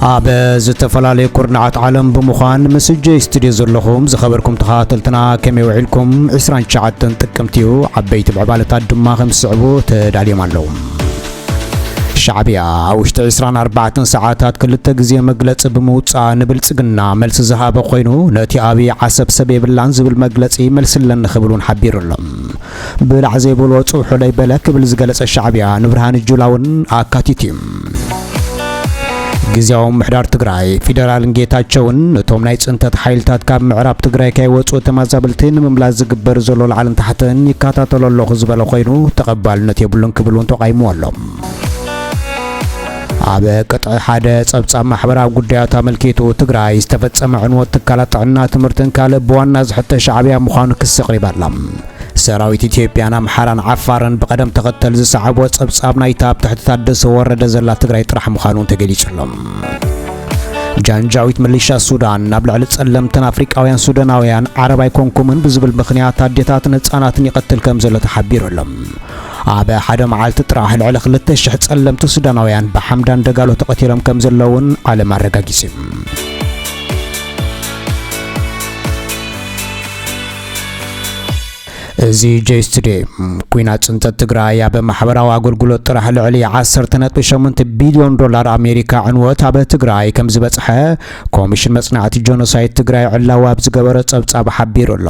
ኣብ ዝተፈላለዩ ኩርናዓት ዓለም ብምዃን ምስ ጆይ ስቱድዮ ዘለኹም ዝኸበርኩም ተኸታተልትና ከመይ ውዒልኩም 29 ጥቅምቲ እዩ ዓበይቲ ምዕባለታት ድማ ከም ዝስዕቡ ተዳልዮም ኣለዉ ሻዕቢያ ኣብ ውሽጢ ዕስራን ኣርባዕተን ሰዓታት ክልተ ግዜ መግለጺ ብምውጻእ ንብልጽግና መልሲ ዝሃበ ኮይኑ ነቲ ኣብይ ዓሰብ ሰብ የብላን ዝብል መግለጺ መልሲ ኣለኒ ክብል እውን ሓቢሩ ኣሎ። ብላዕ ዘይበልዎ ጽብሖለይ በለ ክብል ዝገለጸ ሻዕቢያ ንብርሃኑ ጁላ እውን ኣካቲቱ እዩ። ግዝያዊ ምምሕዳር ትግራይ ፊደራልን ጌታቸውን ነቶም ናይ ፅንተት ሓይልታት ካብ ምዕራብ ትግራይ ከይወፁ ተማዛበልቲ ንምምላስ ዝግበር ዘሎ ላዕልን ታሕትን ይከታተሎ ኣለኹ ዝበለ ኮይኑ ተቐባልነት የብሉን ክብል እውን ተቓይሙ ኣሎ። ኣብ ቅጥዒ ሓደ ጸብጻብ ማሕበራዊ ጉዳያት ኣመልኪቱ ትግራይ ዝተፈጸመ ዕንወት ትካላት ጥዕና ትምህርትን ካልእ ብዋና ዝሕተ ሻዕብያ ምዃኑ ክሲ ኣቕሪባ ኣላ። ሰራዊት ኢትዮጵያን ኣምሓራን ዓፋርን ብቐደም ተኸተል ዝሰዓብዎ ጸብጻብ ናይታ ኣብ ትሕቲ ታደሰ ወረደ ዘላ ትግራይ ጥራሕ ምዃኑ እውን ተገሊጹ ኣሎ። ጃንጃዊት ምልሻ ሱዳን ናብ ልዕሊ ጸለምትን ኣፍሪቃውያን ሱዳናውያን ዓረብ ኣይኮንኩምን ብዝብል ምኽንያት ኣዴታትን ህጻናትን ይቐትል ከም ዘሎ ተሓቢሩ ኣሎ። ኣብ ሓደ መዓልቲ ጥራሕ ልዕሊ 2,000 ጸለምቲ ሱዳናውያን ብሓምዳን ደጋሎ ተቐቲሎም ከም ዘለውን ዓለም ኣረጋጊጹ። እዚ ጀይስ ቱዴይ ኩናት ፅንተት ትግራይ ኣብ ማሕበራዊ ኣገልግሎት ጥራሕ ልዕሊ 10.8 ቢልዮን ዶላር ኣሜሪካ ዕንወት ኣብ ትግራይ ከም ዝበፅሐ ኮሚሽን መፅናዕቲ ጆኖሳይድ ትግራይ ዕላዊ ኣብ ዝገበረ ፀብፃብ ሓቢሩ ኣሎ።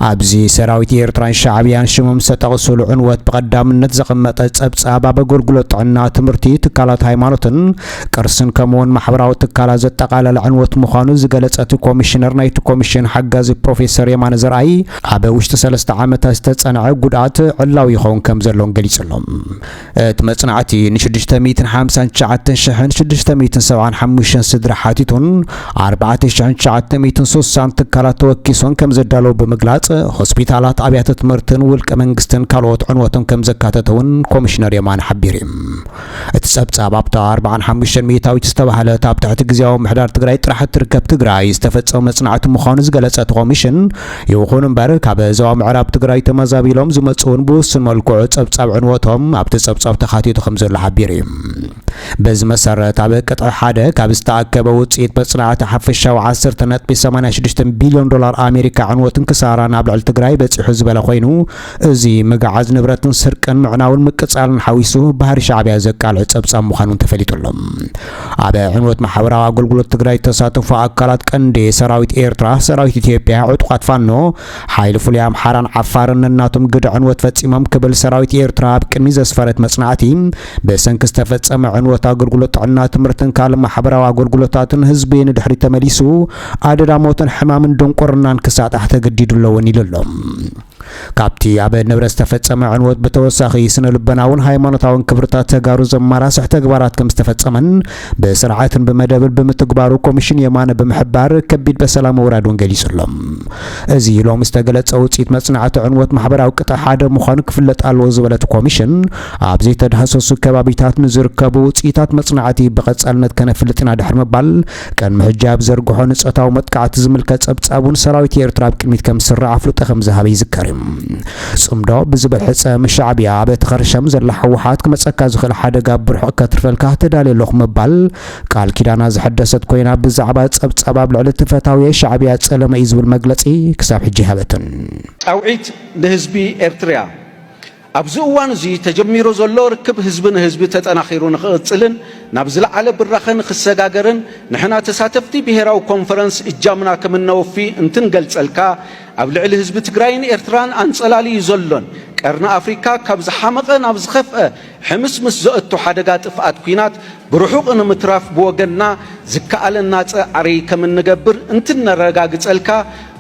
ኣብዚ ሰራዊት ኤርትራን ሻዕብያን ሽሞም ዝተጠቕስሉ ዕንወት ብቐዳምነት ዘቐመጠ ፀብፃብ ኣብ ኣገልግሎት ጥዕና፣ ትምህርቲ፣ ትካላት ሃይማኖትን ቅርስን ከምኡውን ማሕበራዊ ትካላት ዘጠቓለለ ዕንወት ምዃኑ ዝገለጸ እቲ ኮሚሽነር ናይቲ ኮሚሽን ሓጋዚ ፕሮፌሰር የማነ ዘርኣይ ኣብ ውሽጢ ሰለስተ ዓመታት ዝተጸንዐ ጉድኣት ዕላዊ ይኸውን ከም ዘሎን ገሊጹ ኣሎ። እቲ መጽናዕቲ ንሽዱሽተ ሚእትን ሓምሳን ትሽዓተን ሽሕን ሽዱሽተ ሚእትን ሰብዓን ሓሙሽተን ስድራ ሓቲቱን ኣርባዕተ ሽሕን ትሽዓተ ሚእትን ስሳን ትካላት ተወኪሶን ከም ዘዳለዉ ብምግላጽ ሆስፒታላት፣ ኣብያተ ትምህርትን ውልቀ መንግስትን ካልኦት ዕንወቶም ከም ዘካተተ እውን ኮሚሽነር የማነ ሓቢሩ እዩ። እቲ ፀብፃብ ኣብታ ኣርብዓን ሓሙሽተን ሚኢታዊት ዝተባህለት ኣብ ትሕቲ ግዝያዊ ምምሕዳር ትግራይ ጥራሕ እትርከብ ትግራይ ዝተፈፀመ መፅናዕቲ ምዃኑ ዝገለፀ እቲ ኮሚሽን ይኹን እምበር ካብ ዞባ ምዕራብ ትግራይ ተመዛቢሎም ዝመፁ እውን ብውሱን መልክዑ ፀብፃብ ዕንወቶም ኣብቲ ፀብፃብ ተኻቲቱ ከምዘሎ ሓቢሩ እዩ። በዚ መሰረት ኣብ ቅጥዒ ሓደ ካብ ዝተኣከበ ውፅኢት መፅናዕቲ ሓፈሻዊ ዓሰርተ ነጥቢ ሰማንያ ሽዱሽተ ቢልዮን ዶላር ኣሜሪካ ዕንወትን ክሳራን ኣብ ልዕሊ ትግራይ በፂሑ ዝበለ ኮይኑ እዚ ምግዓዝ ንብረትን ስርቅን ምዕናውን ምቅጻልን ሓዊሱ ባህሪ ሻዕቢያ ዘቃልዕ ጸብጻብ ምዃኑን ተፈሊጡ ኣሎ። ኣብ ዕንወት ማሕበራዊ ኣገልግሎት ትግራይ ዝተሳተፉ ኣካላት ቀንዲ ሰራዊት ኤርትራ፣ ሰራዊት ኢትዮጵያ፣ ዕጡቓት ፋኖ፣ ሓይሊ ፍሉይ ኣምሓራን ዓፋርን ነናቶም ግደ ዕንወት ፈጺሞም ክብል ሰራዊት ኤርትራ ኣብ ቅድሚ ዘስፈረት መጽናዕቲ ብሰንኪ ዝተፈጸመ ዕንወት ኣገልግሎት ጥዕና፣ ትምህርትን ካልእ ማሕበራዊ ኣገልግሎታትን ህዝቢ ንድሕሪት ተመሊሱ ኣደዳ ሞትን ሕማምን ድንቁርናን ክሳጣሕ ተገዲዱ ኣሎ እውን ኢሉ ኣሎ። ካብቲ ኣብ ንብረት ዝተፈጸመ ዕንወት ብተወሳኺ ስነ ልቦናውን ሃይማኖታውን ክብርታት ተጋሩ ዘማራስሕ ተግባራት ከም ዝተፈጸመን ብስርዓትን ብመደብን ብምትግባሩ ኮሚሽን የማነ ብምሕባር ከቢድ በሰላ ምውራድ እውን ገሊጹ ኣሎ። እዚ ሎሚ ዝተገለጸ ውፅኢት መጽናዕቲ ዕንወት ማሕበራዊ ቅጥዒ ሓደ ምዃኑ ክፍለጥ ኣለዎ ዝበለት ኮሚሽን ኣብ ዘይተዳህሰሱ ከባቢታት ንዝርከቡ ውፅኢታት መጽናዕቲ ብቐጻልነት ከነፍልጥ ኢና ድሕሪ ምባል ቅድሚ ሕጂ ኣብ ዘርግሖ ንጾታዊ መጥቃዕቲ ዝምልከት ጸብጻብ እውን ሰራዊት ኤርትራ ኣብ ቅድሚት ከም ዝስራዕ ኣፍልጦ ከም ዝሃበ ይዝከር እዩ። ጽምዶ ብዝብል ሕጸ ምስ ሻዕብያ ኣብ እቲ ከርሸም ዘላ ህወሓት ክመጸካ ዝኽእል ሓደጋ ኣብ ብርሑቕ ከትርፈልካ ተዳልየ ኣለኹ ምባል ቃል ኪዳና ዝሐደሰት ኮይና ብዛዕባ ጸብጻብ ኣብ ልዕሊ እቲ ፈታውየይ ሻዕብያ ጸለመ እዩ ዝብል መግለጺ ክሳብ ሕጂ ኣይሃበትን። ጻውዒት ንህዝቢ ኤርትርያ! ኣብዚ እዋን እዚ ተጀሚሩ ዘሎ ርክብ ህዝቢ ንህዝቢ ተጠናኺሩ ንክቕፅልን ናብ ዝለዓለ ብራኸ ንክሰጋገርን ንሕና ተሳተፍቲ ብሄራዊ ኮንፈረንስ እጃምና ከምነወፊ እንትንገልፀልካ ኣብ ልዕሊ ህዝቢ ትግራይን ኤርትራን ኣንፀላልዩ ዘሎን ቀርኒ ኣፍሪካ ካብ ዝሓመቐ ናብ ዝኸፍኣ ሕምስምስ ዘእቱ ሓደጋ ጥፍኣት ኩናት ብርሑቕ ንምትራፍ ብወገንና ዝከኣለና ጸዕሪ ከም እንገብር እንትነረጋግጸልካ፣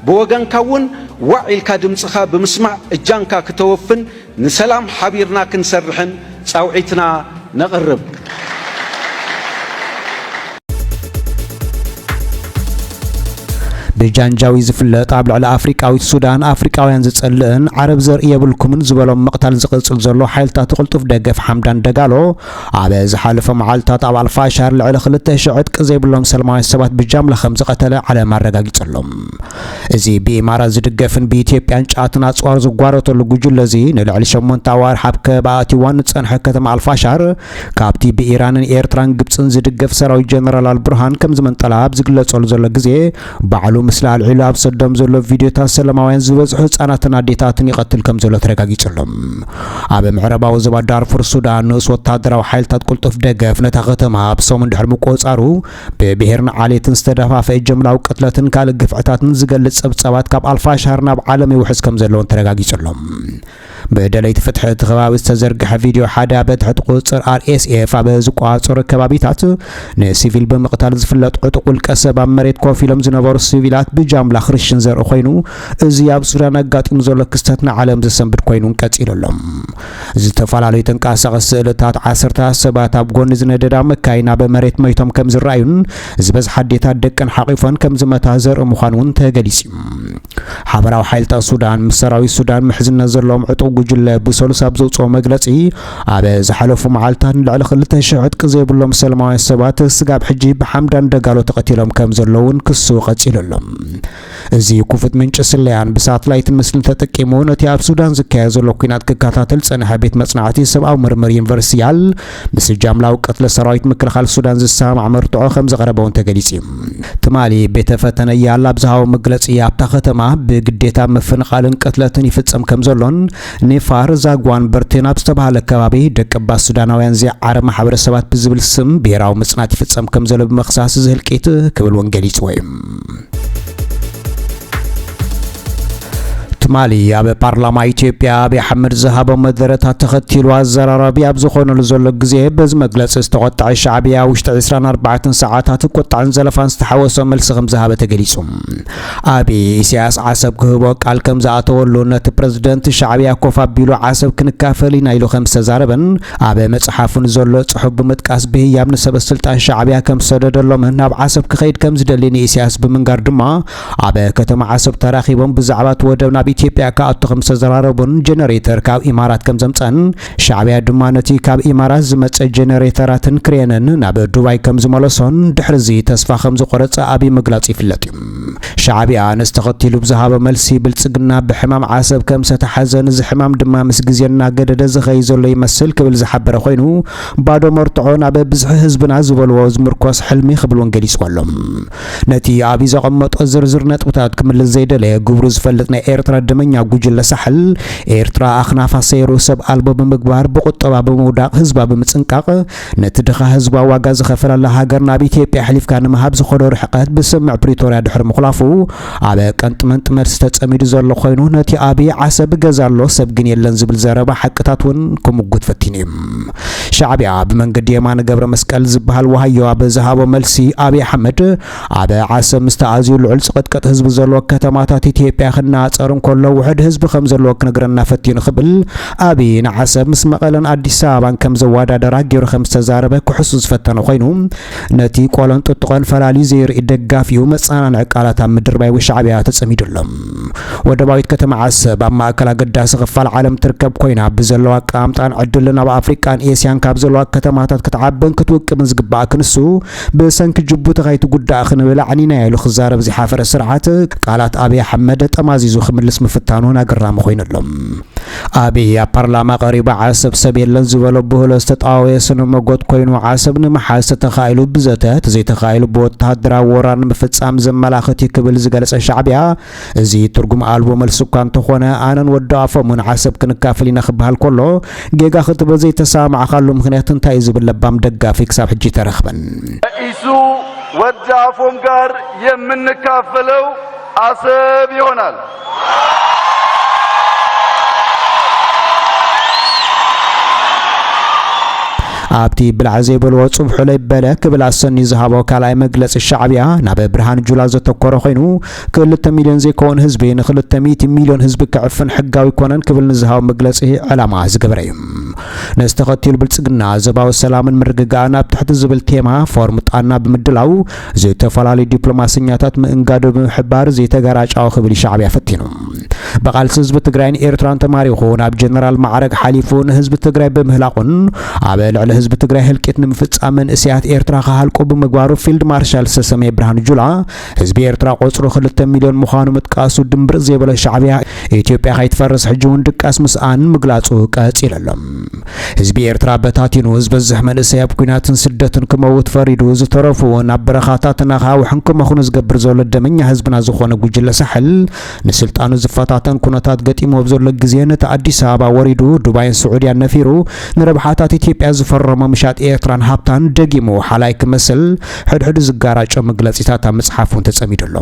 ብወገንካ እውን ዋዕ ኢልካ ድምጽኻ ብምስማዕ እጃምካ ክተወፍን ንሰላም ሓቢርና ክንሰርሕን ጻውዒትና ነቕርብ። ብጃንጃዊድ ዝፍለጥ ኣብ ልዕሊ ኣፍሪቃዊት ሱዳን ኣፍሪቃውያን ዝጸልእን ዓረብ ዘርኢ የብልኩምን ዝበሎም ምቕታል ዝቕጽል ዘሎ ሓይልታቱ ቅልጡፍ ደገፍ ሓምዳን ደጋሎ፣ ኣብ ዝሓለፈ መዓልታት ኣብ ኣልፋሻር ልዕሊ ክልተ ሽሕ ዕጥቂ ዘይብሎም ሰለማውያን ሰባት ብጃምላ ከም ዝቐተለ ዓለም ኣረጋጊጹ ኣሎ። እዚ ብኢማራት ዝድገፍን ብኢትዮጵያን ጫትን ኣጽዋር ዝጓረተሉ ጉጅለ እዚ ንልዕሊ ሸሞንተ ኣዋርሕ ኣብ ከበባ ኣትዩዋ ንጸንሐ ከተማ ኣልፋሻር ካብቲ ብኢራንን ኤርትራን ግብጽን ዝድገፍ ሰራዊት ጀነራል ኣልቡርሃን ከም ዝመንጠላ ኣብ ዝግለጸሉ ዘሎ ግዜ ባዕሉ ምስሊ ኣልዒሉ ኣብ ሰዶም ዘሎ ቪድዮታት ሰለማውያን ዝበዝሑ ህጻናትን ኣዴታትን ይቐትል ከም ዘሎ ተረጋጊጹ ኣሎ። ኣብ ምዕራባዊ ዞባ ዳርፉር ሱዳን ንኡስ ወተሃደራዊ ሓይልታት ቅልጡፍ ደገፍ ነታ ከተማ ኣብ ሰሙን ድሕሪ ምቁጽጻሩ ብብሄርን ዓሌትን ዝተደፋፍአ ጀምላዊ ቅትለትን ካልእ ግፍዕታትን ዝገልጽ ጸብጻባት ካብ ኣልፋሻር ናብ ዓለም ይውሕዝ ከም ዘለውን ተረጋጊጹ ኣሎ። ብደለይቲ ፍትሒ እቲ ከባቢ ዝተዘርግሐ ቪድዮ ሓደ ኣብ ትሕቲ ቁፅፅር RSF ኣብ ዝቆፃፀሩ ከባቢታት ንሲቪል ብምቕታል ዝፍለጥ ዕጡቕ ውልቀ ሰብ ኣብ መሬት ኮፍ ኢሎም ዝነበሩ ሲቪላት ብጃምላ ክርሽን ዘርኢ ኮይኑ እዚ ኣብ ሱዳን ኣጋጢሙ ዘሎ ክስተት ንዓለም ዘሰንብድ ኮይኑን ቀፂሉ ኣሎ። ዝተፈላለዩ ተንቀሳቐሲ ስእልታት ዓሰርታት ሰባት ኣብ ጎኒ ዝነደዳ መካይን ኣብ መሬት መይቶም ከም ዝረኣዩን ዝበዝሓ ኣዴታት ደቀን ሓቚፈን ከም ዝመታ ዘርኢ ምዃኑ እውን ተገሊፁ እዩ። ሓበራዊ ሓይልታት ሱዳን ምስ ሰራዊት ሱዳን ምሕዝነት ዘለዎም ዕጡቕ ጉጅለ ብሰሉስ ኣብ ዘውፅኦ መግለፂ ኣብ ዝሓለፉ መዓልትታት ንልዕሊ 2,000 ዕጥቂ ዘይብሎም ሰላማውያን ሰባት ስጋብ ሕጂ ብሓምዳን ደጋሎ ተቐቲሎም ከም ዘለውን ክሱ ቀፂሉ ኣሎ። እዚ ክፉት ምንጪ ስለያን ብሳትላይትን ምስልን ተጠቂሙ ነቲ ኣብ ሱዳን ዝካየድ ዘሎ ኩናት ክከታተል ዝጸንሐ ቤት መጽናዕቲ ሰብኣዊ ምርምር ዩኒቨርሲቲ ያል ምስ ጃምላዊ ቅትለት ሰራዊት ምክልኻል ሱዳን ዝሰማማዕ መርትዖ ከም ዝቐረበ እውን ተገሊጹ እዩ። ትማሊ ቤተ ፈተነ ያላ ኣብ ዝሃቦ መግለጺ ኣብታ ከተማ ብግዴታ ምፍንቓልን ቅትለትን ይፍጸም ከም ዘሎን ኒፋር ዛግዋን በርቴን ኣብ ዝተባህለ ከባቢ ደቀባት ሱዳናውያን ዘይዓረ ማሕበረሰባት ብዝብል ስም ብሄራዊ ምጽናት ይፍጸም ከም ዘሎ ብምኽሳስ እዚ ህልቂት ክብል እውን ገሊጽዎ እዩ። ትማሊ ኣብ ፓርላማ ኢትዮጵያ ኣብይ ኣሕመድ ዝሃቦ መደረታት ተኸቲሉ ኣዘራራቢ ኣብ ዝኾነሉ ዘሎ ግዜ በዚ መግለፂ ዝተቆጠዐ ሻዕብያ ውሽጢ 24 ሰዓታት ቁጣዕን ዘለፋን ዝተሓወሶ መልሲ ከም ዝሃበ ተገሊፁ። ኣብይ ኢሳያስ ዓሰብ ክህቦ ቃል ከም ዝኣተወሉ ነቲ ፕረዚደንት ሻዕብያ ኮፍ ኣቢሉ ዓሰብ ክንካፈል ኢና ኢሉ ከም ዝተዛረበን ኣብ መጽሓፉ ንዘሎ ጽሑፍ ብምጥቃስ ብህያብ ንሰበ ስልጣን ሻዕብያ ከም ዝሰደደሎምን ናብ ዓሰብ ክኸይድ ከም ዝደሊ ንኢሳያስ ብምንጋር ድማ ኣብ ከተማ ዓሰብ ተራኺቦም ብዛዕባ እቲ ወደብ ናብ ኢትዮጵያ ክኣቱ ከም ዝተዘራረቡን ጀነሬተር ካብ ኢማራት ከም ዘምጸን ሻዕብያ ድማ ነቲ ካብ ኢማራት ዝመጸ ጀነሬተራትን ክሬንን ናብ ዱባይ ከም ዝመለሶን ድሕርዚ ተስፋ ከም ዝቖረጸ ኣብይ ምግላጹ ይፍለጥ እዩ። ሻዕቢያ ነዚ ተኸቲሉ ብዝሃቦ መልሲ ብልፅግና ብሕማም ዓሰብ ከምሰተሓዘን እዚ ሕማም ድማ ምስ ግዜ እናገደደ ዝኸይድ ዘሎ ይመስል ክብል ዝሓበረ ኮይኑ ባዶ መርትዖ ናብ ብዝሒ ህዝብና ዝበልዎ ዝምርኮስ ሕልሚ ክብል እውን ገሊፅዎ ኣሎ። ነቲ ኣብይ ዘቐመጦ ዝርዝር ነጥብታት ክምልስ ዘይደለየ ግብሩ ዝፈልጥ ናይ ኤርትራ ደመኛ ጉጅለ ሳሕል ኤርትራ ኣኽናፋ ሰይሩ ሰብ ኣልቦ ብምግባር ብቑጠባ ብምውዳቕ ህዝባ ብምፅንቃቕ ነቲ ድኻ ህዝባ ዋጋ ዝኸፈለላ ሃገር ናብ ኢትዮጵያ ኣሕሊፍካ ንምሃብ ዝኸዶ ርሕቐት ብስምምዕ ፕሪቶርያ ድሕሪ ምኹላፉ ኣብ ቀንጥመንጢ መልሲ ተፀሚዱ ዘሎ ኾይኑ ነቲ ኣብይ ዓሰብ ገዛ ኣሎ ሰብ ግን የለን ዝብል ዘረባ ሓቅታት ውን ክሙጉት ፈቲኑ ዩ። ሻዕቢያ ብመንገዲ የማነ ገብረመስቀል ዝብሃል ዋሃዮ ኣብ ዝሃቦ መልሲ ኣብይ ኣሕመድ ኣብ ዓሰብ ምስቲ ኣዝዩ ልዑል ጽቕጥቅጥ ህዝቢ ዘለዎ ከተማታት ኢትዮጵያ ክነጻጸር እንከሎ ውሑድ ህዝቢ ከም ዘለዎ ክነግረና ፈቲኑ ክብል ኣብይ ንዓሰብ ምስ መቐለን ኣዲስ ኣበባን ከም ዘወዳደራ ገይሩ ከም ዝተዛረበ ክሕሱ ዝፈተነ ኮይኑ ነቲ ቆሎን ጥጥቖን ፈላልዩ ዘይርኢ ደጋፊኡ መጸናንዒ ቃላት ኣብ ምድርባይ ውሻዕብያ ተጸሚዱ ኣሎ። ወደባዊት ከተማ ዓሰብ ኣብ ማእከል ኣገዳሲ ክፋል ዓለም ትርከብ ኮይና ብዘለዋ ኣቀማምጣን ዕድልን ኣብ ኣፍሪቃን ኤስያን ካብ ዘለዋ ከተማታት ክትዓብን ክትውቅብን ዝግባኣ ክንሱ ብሰንኪ ጅቡቲ ከይትጉዳእ ክንብል ኣዕኒናዮ ኢሉ ክዛረብ ዝሓፈረ ስርዓት፣ ቃላት ኣብይ ኣሕመድ ጠማዚዙ ክምልስ ምፍታኑ እውን ኣገራሚ ኮይኑ ኣሎ። ኣብይ ኣብ ፓርላማ ቀሪቡ ዓሰብ ሰብ የለን ዝበሎ ብህሎ ዝተጣወየ ስነ መጎት ኮይኑ፣ ዓሰብ ንምሓዝ ተተኻኢሉ ብዘተ፣ ተዘይተኻኢሉ ብወተሃደራዊ ወራር ንምፍፃም ዘመላኽት እዩ ክብል ዝገለፀ ሻዕቢያ፣ እዚ ትርጉም ኣልቦ መልሲ እኳ እንተኾነ ኣነን ወዲ ኣፎሙን ዓሰብ ክንካፈል ኢና ክበሃል ከሎ ጌጋ ክትብሎ ዘይተሰማማዕካሉ ምኽንያት እንታይ እዩ ዝብል ለባም ደጋፊ ክሳብ ሕጂ ኣይተረኽበን። ኢሱ ወዲ ኣፎም ጋር የምንካፈለው ኣሰብ ይሆናል። ኣብቲ ብላዕ ዘይበልዎ ጽብሑ ለይበለ ክብል ኣሰንዩ ዝሃቦ ካልኣይ መግለጺ ሻዕብያ ናብ ብርሃን ጁላ ዘተኮረ ኮይኑ ክልተ ሚልዮን ዘይከውን ህዝቢ ንክልተ ሚእቲ ሚልዮን ህዝቢ ክዕፍን ሕጋዊ ኣይኮነን ክብል ንዝሃቦ መግለጺ ዕላማ ዝገበረ እዩ። ነዚ ተኸቲሉ ብልጽግና ዞባዊ ሰላምን ምርግጋእን ኣብ ትሕቲ ዝብል ቴማ ፎርም ጣና ብምድላው ዝተፈላለዩ ዲፕሎማሰኛታት ምእንጋዱ ብምሕባር ዘይተገራጫዊ ክብል ሻዕቢያ ፈቲኑ። ብቓልሲ ህዝቢ ትግራይን ኤርትራን ተማሪኹ ናብ ጀነራል ማዕረግ ሓሊፉ ንህዝቢ ትግራይ ብምህላቑን ኣብ ልዕሊ ህዝቢ ትግራይ ህልቂት ንምፍጻም መንእሰያት ኤርትራ ክሃልቁ ብምግባሩ ፊልድ ማርሻል ሰሰሜ ብርሃኑ ጁላ ህዝቢ ኤርትራ ቆጽሩ ክልተ ሚልዮን ምዃኑ ምጥቃሱ ድምብርጽ ዘይበለ ሻዕብያ ኢትዮጵያ ከይትፈርስ ሕጂ እውን ድቃስ ምስኣን ምግላጹ ቀጺሉ ኣሎ። ህዝቢ ኤርትራ በታቲኑ ዝበዝሕ መንእሰይ ኣብ ኲናትን ስደትን ክመውት ፈሪዱ ዝተረፉ እውን ኣብ በረኻታትን ኣኻውሕን ክመኽኑ ዝገብር ዘሎ ደመኛ ህዝብና ዝኾነ ጉጅለ ሳሕል ንስልጣኑ ዝፈታተን ኩነታት ገጢሙ ኣብ ዘሎ ግዜ ነቲ ኣዲስ ኣበባ ወሪዱ ዱባይን ስዑድያን ነፊሩ ንረብሓታት ኢትዮጵያ ዝፈረሞ ምሻጥ ኤርትራን ሃብታን ደጊሙ ሓላይ ክመስል ሕድሕዱ ዝጋራጮ መግለጺታት ኣብ ምጽሓፍ'ውን ተጸሚዱ ኣሎ።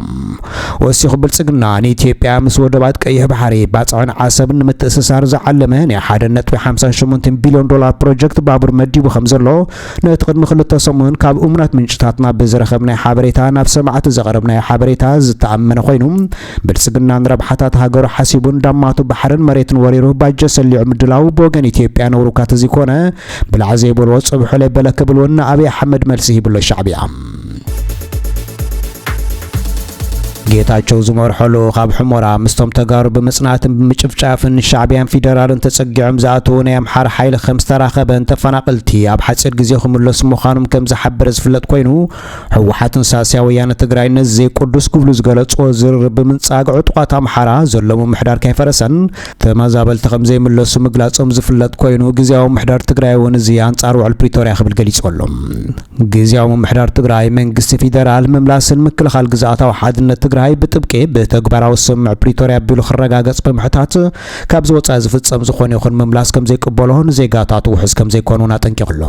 ወሲኹ ብልጽግና ንኢትዮጵያ ምስ ወደባት ቀይሕ ባሕሪ፣ ባጽዕን ዓሰብን ንምትእስሳር ዝዓለመ ናይ ሓደ ነጥቢ ሓምሳ ሸሞንተ ቢልዮን ዶላር ፕሮጀክት ባቡር መዲቡ ከምዘሎ ነቲ ቅድሚ ክልተ ሰሙን ካብ እሙናት ምንጭታትና ብዝረኸብናዮ ሓበሬታ ናብ ሰማዕቲ ዘቕረብናዮ ሓበሬታ ዝተኣመነ ኮይኑ ብልጽግና ንረብሓታት ሃገሩ ሓሲቡ እንዳማቱ ባሕርን መሬትን ወሪሩ ባጀት ሰሊዑ ምድላዉ ብወገን ኢትዮጵያ ነውር'ኳ ተዘይኮነ ብላዕ ዘይበልዎ ጽብሑ ለይበለ ክብል እውን ንኣብይ ኣሕመድ መልሲ ሂብሎ ሻዕብያ። ጌታቸው ዝመርሖ ልኡኽ ኣብ ሑመራ ምስቶም ተጋሩ ብምጽናትን ብምጭፍጫፍን ሻዕብያን ፊደራልን ተጸጊዖም ዝኣተዉ ናይ ኣምሓራ ሓይሊ ከም ዝተራኸበን ተፈናቐልቲ ኣብ ሓጺር ግዜ ክምለሱ ምዃኖም ከም ዝሓበረ ዝፍለጥ ኮይኑ ህወሓትን ሳስያ ወያነ ትግራይ ነዚ ዘይቅዱስ ክብሉ ዝገለጽዎ ዝርርብ ብምንጻግ ዕጡቓት ኣምሓራ ዘለዎ ምሕዳር ከይፈረሰን ተመዛበልቲ ከምዘይምለሱ ምግላፆም ዝፍለጥ ኮይኑ ግዝያዊ ምምሕዳር ትግራይ እውን እዚ ኣንፃር ውዕል ፕሪቶርያ ክብል ገሊፁ ኣሎ። ግዝያዊ ምምሕዳር ትግራይ መንግስቲ ፊደራል ምምላስን ምክልኻል ግዝኣታዊ ሓድነት ትግራይ ብጥብቂ ብተግባራዊ ስምምዕ ፕሪቶርያ ኣቢሉ ክረጋገፅ ብምሕታት ካብዚ ወፃኢ ዝፍፀም ዝኾነ ይኹን ምምላስ ከምዘይቅበሎ ንዜጋታቱ ውሕስ ከምዘይኮነ እውን ኣጠንቂቑ ኣሎ።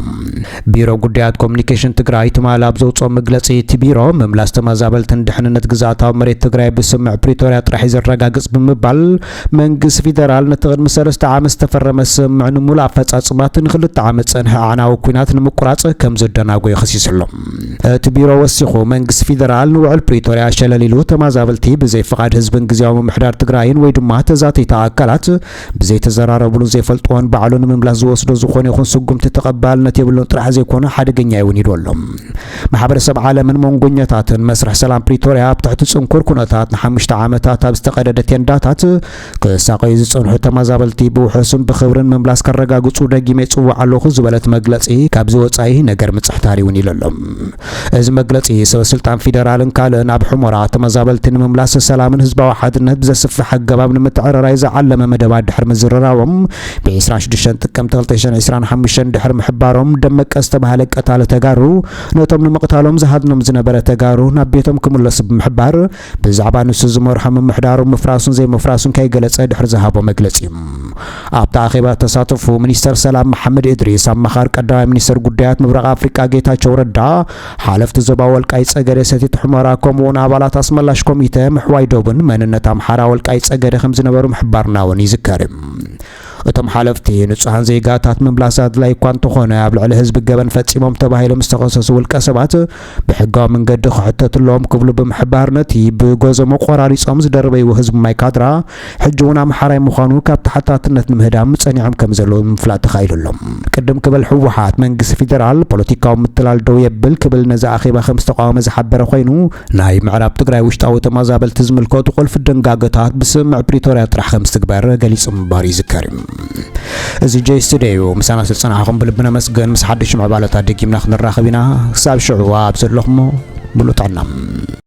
ቢሮ ጉዳያት ኮሚኒኬሽን ትግራይ ትማሊ ኣብ ዘውፅኦ መግለፂ እቲ ቢሮ ምምላስ ተመዛበልትን ድሕንነት ግዝኣታዊ መሬት ትግራይ ብስምምዕ ፕሪቶርያ ጥራሕ እዩ ዘረጋግፅ ብምባል መንግስቲ ፊደራል ነቲ ቅድሚ ሰለስተ ዓመት ዝተፈረመ ስምምዕ ንምሉእ ኣፈፃፅማቱ ንክልተ ዓመት ዝፀንሐ ኣዕናዊ ኲናት ንምቁራፅ ከምዘደናጎዮ ከሲሱ ኣሎ። እቲ ቢሮ ወሲኹ፣ መንግስቲ ፊደራል ንውዕል ፕሪቶርያ ሸለል ኢሉ ተማዛበልቲ ብዘይ ፍቓድ ህዝብን ግዝያዊ ምምሕዳር ትግራይን ወይ ድማ ተዛተይቲ ኣካላት ብዘይተዘራረብሉን ዘይፈልጥዎን ባዕሉ ንምምላስ ዝወስዶ ዝኾነ ይኹን ስጉምቲ ተቐባልነት የብሉን ጥራሕ ዘይኮነ ሓደገኛዮ እውን ኢሉ ኣሎ። ማሕበረሰብ ዓለምን መንጎኘታትን መስርሕ ሰላም ፕሪቶርያ ኣብ ትሕቲ ጽንኩር ኩነታት ንሓሙሽተ ዓመታት ኣብ ዝተቐደደ ቴንዳታት ክሳቐዩ ዝጸንሑ ተመዛበልቲ ብውሑስን ብኽብርን ምምላስ ከረጋግጹ ደጊመ ይጽዋዕ ኣለኹ ዝበለት መግለጺ ካብዚ ወጻኢ ነገር ምጽሕታር ይውን ኢሉ ኣሎ። እዚ መግለጺ ሰበስልጣን ፊደራልን ካልእን ኣብ ሑመራ ተመዛበልቲ ንምምላስ ሰላምን ህዝባዊ ሓድነት ብዘስፍሕ ኣገባብ ንምትዕርራይ ዝዓለመ መደባት ድሕሪ ምዝርራቦም ብ26 ጥቅምቲ 2025 ድሕሪ ምሕባሮም ደመቀ ዝተባሃለ ቀታሊ ተጋሩ ነቶም ንምቕታሎም ዝሃድኖም ዝነበረ ተጋሩ ናብ ቤቶም ክምለሱ ብምሕባር ብዛዕባ ንሱ ዝመርሖ ምምሕዳሩ ምፍራሱን ዘይምፍራሱን ከይገለጸ ድሕሪ ዝሃቦ መግለጺ እዩ። ኣብቲ ኣኼባ ተሳተፉ ሚኒስተር ሰላም መሓመድ እድሪስ፣ ኣማኻሪ ቀዳማይ ሚኒስተር ጉዳያት ምብራቕ ኣፍሪቃ ጌታቸው ረዳ፣ ሓለፍቲ ዞባ ወልቃይ ጸገዴ ሰቲት ሑመራ ከምኡውን ኣባላት ኣስመላሽ ኮሚተ ምሕዋይ ዶብን መንነት ኣምሓራ ወልቃይ ጸገዴ ከም ዝነበሩ ምሕባርና እውን ይዝከር እቶም ሓለፍቲ ንጹሃን ዜጋታት ምምላስ ኣድላይ እኳ እንተኾነ ኣብ ልዕሊ ህዝቢ ገበን ፈጺሞም ተባሂሎም ዝተኸሰሱ ውልቀ ሰባት ብሕጋዊ መንገዲ ክሕተትሎም ክብሉ ብምሕባር ነቲ ብጎዘሞ ቆራሪጾም ዝደርበይዎ ህዝቢ ማይ ካድራ ሕጂ እውን ኣምሓራይ ምዃኑ ካብ ተሓታትነት ንምህዳም ጸኒዖም ከም ዘለዉ ምፍላጥ ተኻኢሉ ኣሎ። ቅድም ክብል ህወሓት፣ መንግስቲ ፊደራል ፖለቲካዊ ምትላል ደው የብል ክብል ነዚ ኣኼባ ከም ዝተቓወመ ዝሓበረ ኮይኑ፣ ናይ ምዕራብ ትግራይ ውሽጣዊ ተመዛበልቲ ዝምልከቱ ቁልፊ ድንጋገታት ብስምምዕ ፕሪቶርያ ጥራሕ ከም ዝትግበር ገሊጹ ምንባሩ ይዝከር እዩ። እዚ ጀይ ስቱድዮ እዩ። ምሳና ስለ ዝጸናሕኹም ብልቢ ነመስግን። ምስ ሓድሽ ምዕባለታት ደጊምና ክንራኸብ ኢና። ክሳብ ሽዑ ኣብ ዘለኹሞ ምሉእ ጥዕና።